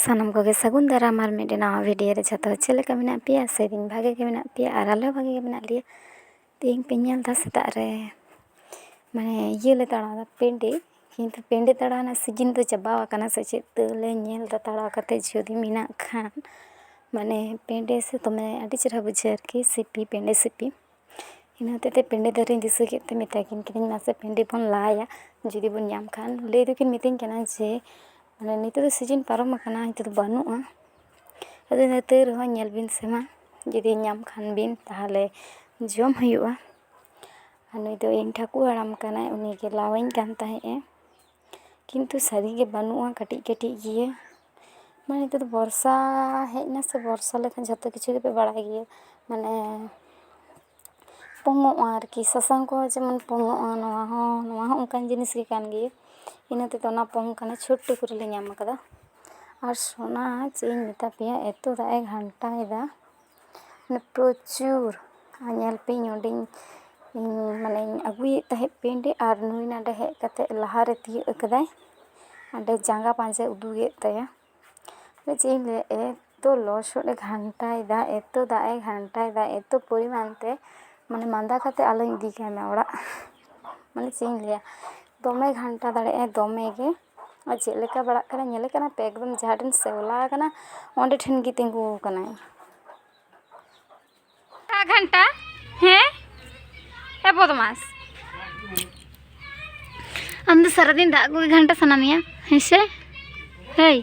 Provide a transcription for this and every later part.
ᱥᱟᱱᱟᱢ ᱠᱚᱜᱮ ᱥᱟᱹᱜᱩᱱ ᱫᱟᱨᱟᱢ ᱟᱨ ᱢᱤᱫᱴᱮᱱ ᱱᱟᱣᱟ ᱵᱷᱤᱰᱤᱭᱳ ᱨᱮ ᱡᱷᱚᱛᱚ ᱪᱮᱫ ᱞᱮᱠᱟ ᱢᱮᱱᱟᱜ ᱯᱮᱭᱟ ᱥᱮᱫᱤᱱ ᱵᱷᱟᱜᱮ ᱜᱮ ᱢᱮᱱᱟᱜ ᱯᱮᱭᱟ ᱟᱨ ᱟᱞᱮ ᱦᱚᱸ ᱵᱷᱟᱜᱮ ᱜᱮ ᱢᱮᱱᱟᱜ ᱞᱮᱭᱟ ᱛᱮᱦᱮᱧ ᱯᱮ ᱧᱮᱞ ᱮᱫᱟ ᱥᱮᱛᱟᱜ ᱨᱮ ᱢᱟᱱᱮ ᱤᱭᱟᱹ ᱞᱮ ᱛᱟᱲᱟᱣ ᱮᱫᱟ ᱯᱤᱸᱰᱟᱹ ᱠᱤᱱᱛᱩ ᱯᱤᱸᱰᱟᱹ ᱛᱟᱲᱟᱣ ᱨᱮᱱᱟᱜ ᱥᱤᱡᱤᱱ ᱫᱚ ᱪᱟᱵᱟ ᱟᱠᱟᱱᱟ ᱥᱮ ᱪᱮᱫ ᱛᱟᱹᱣ ᱞᱮ ᱧᱮᱞ ᱮᱫᱟ ᱛᱟᱲᱟᱣ ᱠᱟᱛᱮᱫ ᱡᱩᱫᱤ ᱢᱮᱱᱟᱜ ᱠᱷᱟᱱ ᱢᱟᱱᱮ ᱯᱤᱸᱰᱟᱹ ᱥᱮ ᱫᱚᱢᱮ ᱟᱹᱰᱤ ᱪᱮᱦᱨᱟ ᱵᱩᱡᱷᱟᱹᱜᱼᱟ ᱟᱨᱠᱤ ᱥᱤᱯᱤ ᱯᱤᱸᱰᱟᱹ ᱥᱤᱯᱤ ᱤᱱᱟᱹ ᱦᱚᱛᱮᱡ ᱛᱮ ᱯᱤᱰᱤ ᱫᱟᱨᱮᱧ ᱫᱤᱥᱟᱹ ᱠᱮᱫ ᱛᱮ ᱢᱮᱛᱟ ᱠᱤᱱ ᱠᱟᱹᱱᱟᱹᱧ ᱢᱟᱥᱮ ᱯᱤᱰᱤ ᱵᱚᱱ ᱞᱟᱭᱟ ᱡᱩᱫᱤ ᱵᱚᱱ ᱧᱟᱢ ᱠᱷᱟᱱ ᱞᱟᱹᱭ ᱫᱚᱠᱤᱱ ᱢᱤᱛᱟᱹᱧ ᱠᱟᱱᱟ ᱡᱮ ᱢᱟᱱᱮ ᱱᱤᱛᱚᱜ ᱫᱚ ᱥᱤᱡᱤᱱ ᱯᱟᱨᱚᱢ ᱟᱠᱟᱱᱟ ᱱᱤᱛᱚᱜ ᱫᱚ ᱵᱟᱹᱱᱩᱜᱼᱟ ᱟᱫᱚ ᱛᱟᱹᱣ ᱨᱮᱦᱚᱸ ᱧᱮᱞ ᱵᱤᱱ ᱥᱮ ᱢᱟ ᱡᱩᱫᱤ ᱧᱟᱢ ᱠᱷᱟᱱ ᱵᱤᱱ ᱛᱟᱦᱚᱞᱮ ᱡᱚᱢ ᱦᱩᱭᱩᱜᱼᱟ ᱟᱨ ᱱᱩᱭ ᱫᱚ ᱤᱧ ᱴᱷᱟᱹᱠᱩᱨ ᱦᱟᱲᱟᱢ ᱠᱟᱱᱟᱭ ᱩᱱᱤᱜᱮ ᱞᱟᱣᱟᱹᱧ ᱠᱟᱱ ᱛᱟᱦᱮᱸᱫ ᱮ ᱠᱤᱱᱛᱩ ᱥᱟᱹᱨᱤᱜᱮ ᱵᱟᱹᱱᱩᱜᱼᱟ ᱠᱟᱹᱴᱤᱡ ᱠᱟᱹᱴᱤᱡ ᱜᱮᱭᱟ ᱢᱟᱱᱮ ᱱᱤᱛᱚᱜ ᱫᱚ ᱵᱚᱨᱥᱟ ᱦᱮᱡ ᱮᱱᱟ ᱥᱮ ᱵᱚᱨᱥᱟ ᱞᱮᱠᱷᱟᱱ ᱡᱷᱚᱛᱚ ᱠᱤᱪᱷᱩ ᱜᱮᱯᱮ ᱵᱟᱲᱟᱭ ᱜᱮᱭᱟ ᱢᱟᱱᱮ ᱯᱚᱝᱚᱜᱼᱟ ᱟᱨᱠᱤ ᱥᱟᱥᱟᱝ ᱠᱚᱦᱚᱸ ᱡᱮᱢᱚᱱ ᱯᱚᱝᱚᱜᱼᱟ ᱱᱚᱣᱟ ᱦᱚᱸ ᱱᱚᱣᱟ ᱦᱚᱸ ᱚᱱᱠᱟᱱ ᱡᱤᱱᱤᱥ ᱜᱮ ᱠᱟᱱ ᱜᱮᱭᱟ ᱤᱱᱟᱹ ᱛᱮᱫᱚ ᱚᱱᱟ ᱯᱚᱝ ᱠᱟᱱᱟ ᱪᱷᱩᱴ ᱴᱩᱠᱩᱡ ᱨᱮᱞᱮ ᱧᱟᱢ ᱠᱟᱫᱟ ᱟᱨ ᱥᱚᱱᱟ ᱪᱮᱫ ᱤᱧ ᱢᱮᱛᱟ ᱯᱮᱭᱟ ᱮᱛᱚ ᱫᱟᱜ ᱮ ᱜᱷᱟᱱᱴᱟᱭᱮᱫᱟ ᱯᱨᱚᱪᱩᱨ ᱧᱮᱞ ᱯᱮ ᱱᱚᱰᱮᱧ ᱢᱟᱱᱮᱧ ᱟᱹᱜᱩᱭᱮᱫ ᱛᱟᱦᱮᱸᱫ ᱯᱮᱱᱴ ᱟᱨ ᱱᱩᱭ ᱱᱚᱰᱮ ᱦᱮᱡ ᱠᱟᱛᱮᱫ ᱞᱟᱦᱟᱨᱮ ᱛᱤᱭᱳᱜ ᱠᱟᱫᱟᱭ ᱚᱸᱰᱮ ᱡᱟᱸᱜᱟ ᱯᱟᱸᱡᱟᱭ ᱩᱫᱩᱜ ᱮᱫ ᱛᱟᱭᱟ ᱟᱫᱚ ᱪᱮᱫ ᱤᱧ ᱞᱟᱹᱭᱟ ᱮᱛᱚ ᱞᱚᱥᱚᱫ ᱮ ᱜᱷᱟᱱᱴᱟᱭᱮᱫᱟ ᱮᱛᱚ ᱫᱟᱜ ᱮ ᱜᱷᱟᱱᱴᱟᱭᱮᱫᱟ ᱮᱛᱚ ᱯᱚᱨᱤᱢᱟᱱ ᱛᱮ ᱢᱟᱱᱮ ᱢᱟᱸᱫᱟ ᱠᱟᱛᱮᱫ ᱟᱞᱚᱧ ᱤᱫᱤ ᱠᱟᱭᱢᱟ ᱚᱲᱟᱜ ᱢᱟᱱᱮ ᱪᱮᱫ ᱤᱧ ᱞᱟᱹᱭᱟ ᱫᱚᱢᱮ ᱜᱷᱟᱱᱴᱟ ᱫᱟᱲᱮᱭᱟᱜᱼᱟᱭ ᱫᱚᱢᱮᱜᱮ ᱟᱨ ᱪᱮᱫ ᱞᱮᱠᱟ ᱵᱟᱲᱟᱜ ᱠᱟᱱᱟᱭ ᱧᱮᱞᱮ ᱠᱟᱱᱟ ᱯᱮ ᱮᱠᱫᱚᱢ ᱡᱟᱦᱟᱸ ᱴᱷᱮᱱ ᱥᱮᱣᱞᱟ ᱟᱠᱟᱱᱟ ᱚᱸᱰᱮ ᱴᱷᱮᱱ ᱜᱮ ᱛᱤᱸᱜᱩ ᱟᱠᱟᱱᱟᱭ ᱜᱷᱟᱱᱴᱟ ᱦᱮᱸ ᱮ ᱵᱚᱫᱢᱟᱥ ᱟᱢ ᱫᱚ ᱥᱟᱨᱟᱫᱤᱱ ᱫᱟᱜ ᱠᱚᱜᱮ ᱜᱷᱟᱱᱴᱟ ᱥᱟᱱᱟ ᱢᱮᱭᱟ ᱦᱮᱸ ᱥᱮ ᱦᱮᱭ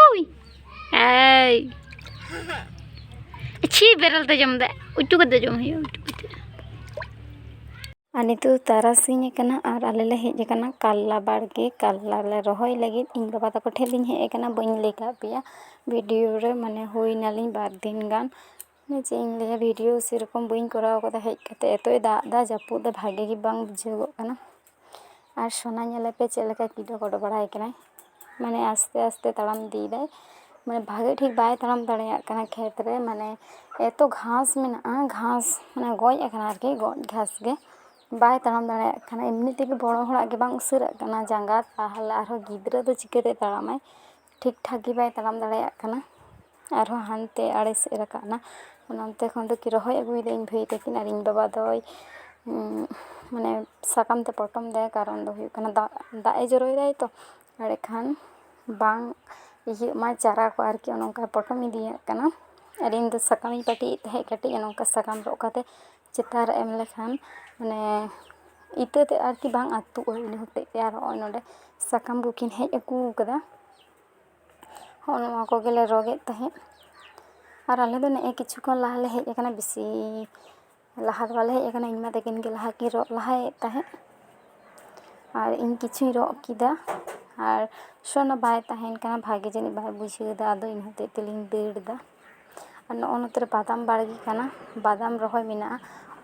ᱩᱭ ᱮᱭ ᱪᱷᱤ ᱵᱮᱨᱮᱞ ᱛᱮ ᱡᱚᱢ ᱫᱟ ᱩᱪᱩ ᱠᱟᱛᱮ ᱡᱚᱢ ᱦᱩᱭᱩᱜᱼᱟ ᱩᱪᱩ ᱠᱟᱛᱮ ᱟᱨ ᱱᱤᱛᱚᱜ ᱫᱚ ᱛᱟᱨᱟᱥᱤᱧ ᱟᱠᱟᱱᱟ ᱟᱨ ᱟᱞᱮ ᱞᱮ ᱦᱮᱡ ᱟᱠᱟᱱᱟ ᱠᱟᱞᱞᱟ ᱵᱟᱲᱜᱮ ᱠᱟᱞᱞᱟ ᱞᱮ ᱨᱚᱦᱚᱭ ᱞᱟᱹᱜᱤᱫ ᱤᱧ ᱵᱟᱵᱟ ᱛᱟᱠᱚ ᱴᱷᱮᱱ ᱞᱤᱧ ᱦᱮᱡ ᱟᱠᱟᱱᱟ ᱵᱟᱹᱧ ᱞᱟᱹᱭ ᱟᱠᱟᱫ ᱯᱮᱭᱟ ᱵᱷᱤᱰᱤᱭᱳ ᱨᱮ ᱢᱟᱱᱮ ᱦᱩᱭ ᱮᱱᱟᱞᱤᱧ ᱵᱟᱨ ᱫᱤᱱ ᱜᱟᱱ ᱢᱟᱱᱮ ᱪᱮᱫ ᱤᱧ ᱞᱟᱹᱭᱟ ᱵᱷᱤᱰᱤᱭᱳ ᱥᱮᱨᱚᱠᱚᱢ ᱵᱟᱹᱧ ᱠᱚᱨᱟᱣ ᱟᱠᱟᱫᱟ ᱦᱮᱡ ᱠᱟᱛᱮᱫ ᱮᱛᱚᱭ ᱫᱟᱜ ᱮᱫᱟ ᱡᱟᱹᱯᱩᱫ ᱮᱫᱟᱭ ᱵᱷᱟᱹᱜᱤ ᱜᱮ ᱵᱟᱝ ᱵᱩᱡᱷᱟᱹᱣᱚᱜ ᱠᱟᱱᱟ ᱟᱨ ᱥᱳᱱᱟ ᱧᱮᱞᱮᱯᱮ ᱪᱮᱫ ᱞᱮᱠᱟ ᱠᱤᱰᱚ ᱠᱚᱰᱚ ᱵᱟᱲᱟᱭ ᱠᱟᱱᱟᱭ ᱢᱟᱱᱮ ᱟᱥᱛᱮ ᱟᱥᱛᱮ ᱛᱟᱲᱟᱢ ᱤᱫᱤᱭᱮᱫᱟᱭ ᱢᱟᱱᱮ ᱵᱷᱟᱜᱮ ᱴᱷᱤᱠ ᱵᱟᱭ ᱛᱟᱲᱟᱢ ᱫᱟᱲᱮᱭᱟᱜ ᱠᱟᱱᱟ ᱠᱷᱮᱛ ᱨᱮ ᱢᱟᱱᱮ ᱮᱛᱚ ᱜᱷᱟᱥ ᱢᱮᱱᱟᱜᱼᱟ ᱜᱷᱟᱥ ᱢᱟᱱᱮ ᱜᱚᱡ ᱟᱠᱟᱱᱟ ᱟᱨᱠᱤ ᱜᱚᱡ ᱜᱷᱟᱥ ᱜᱮ ᱵᱟᱭ ᱛᱟᱲᱟᱢ ᱫᱟᱲᱮᱭᱟᱜ ᱠᱟᱱᱟ ᱮᱢᱱᱤ ᱛᱮᱜᱮ ᱵᱚᱲᱚ ᱦᱚᱲᱟᱜ ᱜᱮ ᱵᱟᱝ ᱩᱥᱟᱹᱨᱟᱜ ᱠᱟᱱᱟ ᱡᱟᱸᱜᱟ ᱛᱟᱦᱚᱞᱮ ᱟᱨᱦᱚᱸ ᱜᱤᱫᱽᱨᱟᱹ ᱫᱚ ᱪᱤᱠᱟᱹᱛᱮ ᱛᱟᱲᱟᱢᱟᱭ ᱴᱷᱤᱠ ᱴᱷᱟᱠ ᱜᱮ ᱵᱟᱭ ᱛᱟᱲᱟᱢ ᱫᱟᱲᱮᱭᱟᱜ ᱠᱟᱱᱟ ᱟᱨᱦᱚᱸ ᱦᱟᱱᱛᱮ ᱟᱲᱮ ᱥᱮᱫ ᱮ ᱨᱟᱠᱟᱵ ᱮᱱᱟ ᱚᱱᱟ ᱚᱱᱛᱮ ᱠᱷᱚᱱ ᱫᱚᱠᱤᱱ ᱨᱚᱦᱚᱭ ᱟᱹᱜᱩᱭᱮᱫᱟ ᱤᱧ ᱵᱷᱟᱹᱭ ᱛᱟᱹᱠᱤᱱ ᱟᱨ ᱤᱧ ᱵᱟᱵᱟ ᱫᱚᱭ ᱢᱟᱱᱮ ᱥᱟᱠᱟᱢ ᱛᱮ ᱯᱚᱴᱚᱢ ᱮᱫᱟᱭ ᱠᱟᱨᱚᱱ ᱫᱚ ᱦᱩᱭᱩᱜ ᱠᱟᱱᱟ ᱫᱟᱜ ᱫᱟᱜ ᱮ ᱡᱚᱨᱚᱭᱮᱫᱟᱭ ᱛᱚ ᱮᱸᱰᱮ ᱠᱷᱟᱱ ᱵᱟᱝ ᱤᱭᱟᱹᱜ ᱢᱟ ᱪᱟᱨᱟ ᱠᱚ ᱟᱨᱠᱤ ᱚᱱᱮ ᱚᱱᱠᱟᱭ ᱯᱚᱴᱚᱢ ᱤᱫᱤᱭᱟᱜ ᱠᱟᱱᱟ ᱟᱨ ᱤᱧ ᱫᱚ ᱥᱟᱠᱟᱢ ᱤᱧ ᱯᱟᱹᱴᱤᱭᱮᱫ ᱛᱟᱦᱮᱸᱫ ᱠᱟᱹᱴᱤᱡ ᱚᱱᱮ ᱚᱱᱠᱟ ᱥᱟᱠᱟᱢ ᱨᱚᱜ ᱠᱟᱛᱮ ᱪᱮᱛᱟᱱ ᱨᱮ ᱮᱢ ᱞᱮᱠᱷᱟᱱ ᱢᱟᱱᱮ ᱤᱛᱟᱹ ᱛᱮᱫ ᱟᱨᱠᱤ ᱵᱟᱝ ᱟᱹᱛᱩᱜᱼᱟ ᱤᱱᱟᱹ ᱦᱚᱛᱮᱡ ᱛᱮ ᱟᱨ ᱱᱚᱜᱼᱚᱭ ᱱᱚᱰᱮ ᱥᱟᱠᱟᱢ ᱠᱚᱠᱤᱱ ᱦᱮᱡ ᱟᱹᱜᱩ ᱟᱠᱟᱫᱟ ᱦᱚᱸᱜᱼᱚ ᱱᱚᱣᱟ ᱠᱚᱜᱮᱞᱮ ᱨᱚᱜ ᱮᱫ ᱛᱟᱦᱮᱸᱫ ᱟᱨ ᱟᱞᱮ ᱫᱚ ᱱᱮᱜᱼᱮ ᱠᱤᱪᱷᱩ ᱠᱷᱚᱱ ᱞᱟᱦᱟ ᱞᱮ ᱦᱮᱡ ᱠᱟᱱᱟ ᱵᱮᱥᱤ ᱞᱟᱦᱟ ᱫᱚ ᱵᱟᱞᱮ ᱦᱮᱡ ᱠᱟᱱᱟ ᱤᱧ ᱢᱟ ᱛᱟᱹᱠᱤᱱ ᱜᱮ ᱞᱟᱦᱟ ᱠᱤᱱ ᱨᱚᱜ ᱞᱟᱦᱟᱭᱮᱫ ᱛᱟᱦᱮᱸᱫ ᱟᱨ ᱤᱧ ᱠᱤᱪᱷᱩᱧ ᱨᱚᱜ ᱠᱮᱫᱟ ᱟᱨ ᱥᱚᱱᱟ ᱵᱟᱭ ᱛᱟᱦᱮᱱ ᱠᱟᱱᱟ ᱵᱷᱟᱜᱮ ᱡᱟᱹᱱᱤᱡ ᱵᱟᱭ ᱵᱩᱡᱷᱟᱹᱣᱫᱟ ᱟᱫᱚ ᱤᱱᱟᱹ ᱦᱚᱛᱮᱡ ᱛᱮᱞᱤᱧ ᱫᱟᱹᱲ ᱮᱫᱟ ᱟᱨ ᱱᱚᱜᱼᱚᱭ ᱱᱚᱛᱮ ᱨᱮ ᱵᱟᱫᱟᱢ ᱵᱟᱲᱜᱮ ᱠᱟᱱᱟ ᱵᱟᱫᱟᱢ ᱨᱚᱦᱚᱭ ᱢᱮᱱᱟᱜᱼᱟ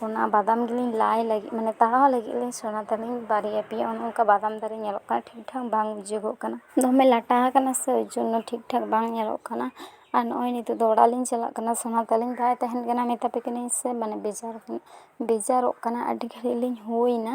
ᱚᱱᱟ ᱵᱟᱫᱟᱢ ᱜᱮᱞᱤᱧ ᱞᱟᱭ ᱞᱟᱹᱜᱤᱫ ᱢᱟᱱᱮ ᱛᱟᱲᱟᱣ ᱞᱟᱹᱜᱤᱫ ᱞᱤᱧ ᱥᱮᱬᱟ ᱛᱟᱹᱞᱤᱧ ᱵᱟᱨᱭᱟ ᱯᱮᱭᱟ ᱚᱱᱮ ᱚᱱᱠᱟ ᱵᱟᱫᱟᱢ ᱫᱟᱨᱮ ᱧᱮᱞᱚᱜ ᱠᱟᱱᱟ ᱴᱷᱤᱠ ᱴᱷᱟᱠ ᱵᱟᱝ ᱵᱩᱡᱷᱟᱹᱜᱚᱜ ᱠᱟᱱᱟ ᱫᱚᱢᱮ ᱞᱟᱴᱟ ᱟᱠᱟᱱᱟ ᱥᱮ ᱳᱭ ᱡᱚᱱᱱᱚ ᱴᱷᱤᱠ ᱴᱷᱟᱠ ᱵᱟᱝ ᱧᱮᱞᱚᱜ ᱠᱟᱱᱟ ᱟᱨ ᱱᱚᱜᱼᱚᱭ ᱱᱤᱛᱚᱜ ᱫᱚ ᱚᱲᱟᱜ ᱞᱤᱧ ᱪᱟᱞᱟᱜ ᱠᱟᱱᱟ ᱥᱮᱬᱟ ᱛᱟᱹᱞᱤᱧ ᱵᱟᱭ ᱛᱟᱦᱮᱱ ᱠᱟᱱᱟ ᱢᱮᱛᱟ ᱯᱮ ᱠᱟᱹᱱᱟᱹᱧ ᱥᱮ ᱢᱟᱱᱮ ᱵᱮᱡᱟᱨ ᱵᱮᱡᱟᱨᱚᱜ ᱠᱟᱱᱟ ᱟᱹᱰᱤ ᱜᱷᱟᱹᱲᱤᱡ ᱞᱤᱧ ᱦᱩᱭ ᱮᱱᱟ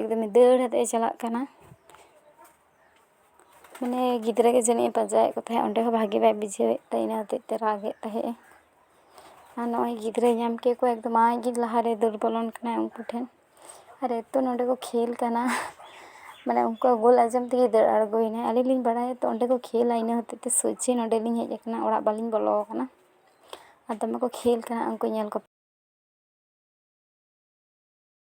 ᱮᱠᱫᱚᱢᱮ ᱫᱟᱹᱲ ᱟᱛᱮᱫ ᱮ ᱪᱟᱞᱟᱜ ᱠᱟᱱᱟ ᱢᱟᱱᱮ ᱜᱤᱫᱽᱨᱟᱹ ᱜᱮ ᱡᱟᱹᱱᱤᱡ ᱮ ᱯᱟᱸᱡᱟᱭᱮᱫ ᱠᱚ ᱛᱟᱦᱮᱸᱫ ᱚᱸᱰᱮ ᱦᱚᱸ ᱵᱷᱟᱜᱮ ᱵᱟᱭ ᱵᱩᱡᱷᱟᱹᱣᱮᱫ ᱛᱮ ᱤᱱᱟᱹ ᱦᱚᱛᱮᱫ ᱛᱮ ᱨᱟᱜ ᱮᱫ ᱛᱟᱦᱮᱸᱫ ᱮ ᱟᱨ ᱱᱚᱜᱼᱚᱭ ᱜᱤᱫᱽᱨᱟᱹᱭ ᱧᱟᱢ ᱠᱮᱫ ᱠᱚᱣᱟ ᱮᱠᱫᱚᱢ ᱟᱡ ᱜᱮ ᱞᱟᱦᱟᱨᱮᱭ ᱫᱟᱹᱲ ᱵᱚᱞᱚᱱ ᱠᱟᱱᱟᱭ ᱩᱱᱠᱩ ᱴᱷᱮᱱ ᱟᱨ ᱮᱛᱚ ᱱᱚᱸᱰᱮ ᱠᱚ ᱠᱷᱮᱞ ᱠᱟᱱᱟ ᱢᱟᱱᱮ ᱩᱱᱠᱩᱣᱟᱜ ᱜᱳᱞ ᱟᱸᱡᱚᱢ ᱛᱮᱜᱮ ᱫᱟᱹᱲ ᱟᱬᱜᱚᱭᱮᱱᱟᱭ ᱟᱹᱞᱤᱧ ᱞᱤᱧ ᱵᱟᱲᱟᱭᱟ ᱛᱚ ᱚᱸᱰᱮ ᱠᱚ ᱠᱷᱮᱞᱟ ᱤᱱᱟᱹ ᱦᱚᱛᱮᱫ ᱛᱮ ᱥᱚᱡᱷᱮ ᱱᱚᱸᱰᱮ ᱞᱤᱧ ᱦᱮᱡ ᱟᱠᱟᱱᱟ ᱚᱲᱟᱜ ᱵᱟᱹᱞᱤᱧ ᱵᱚᱞᱚ ᱟᱠᱟᱱᱟ ᱟᱨ ᱫᱚᱢᱮ ᱠᱚ ᱠᱷᱮᱞ ᱠᱟᱱᱟ ᱩᱱᱠᱩ ᱧᱮᱞ ᱠᱟᱛᱮᱫ